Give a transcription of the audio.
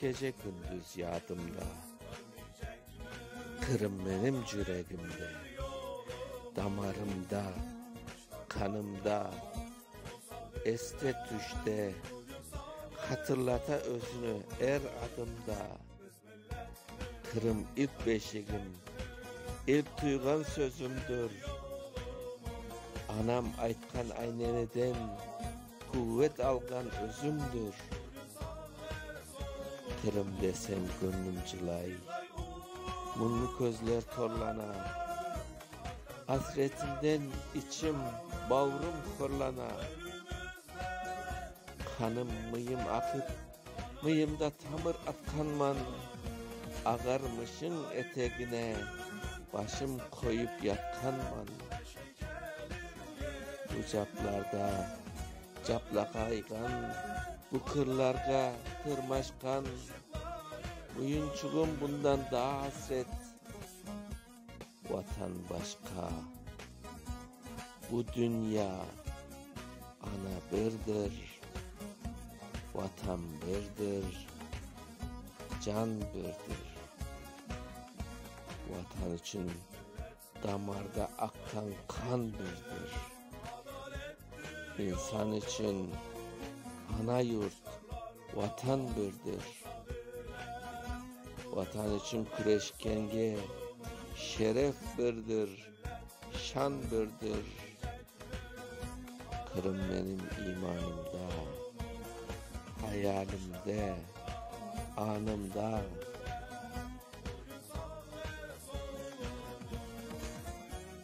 Gece-kündüz yadımda. Qırım menim cüregimde. Damarımda, qanımda. Este-tüşte, hatırlata özüni er adımda. Qırım ilk beşigim, ilk tuyğan sözümdür. Anam aytqan ayneneden. Quvet alğan özümdir, tirim desem köñlüm cılay, Muñlı közler torlana, asretinden içim, bağrım horlana, Qanım, mıyım aqıp. Mıyımda tamır atqanman, Ağarmışıñ etegine Başım qoyıp yatqanman. Bu caplarda caplağayğan, Bu qırlarğa tırmaşqan, Muyunçuğım bundan daa asret. Vatan başqa, bu dünya ana birdir, Vatan birdir, can birdir. Vatan içün damarda aqqan qan birdir. İnsan içün ana yurt, Vatan birdir. Vatan içün küreşkenge şeref birdir, şan birdir. Qırım menim imanımda, hayalimde, añımda.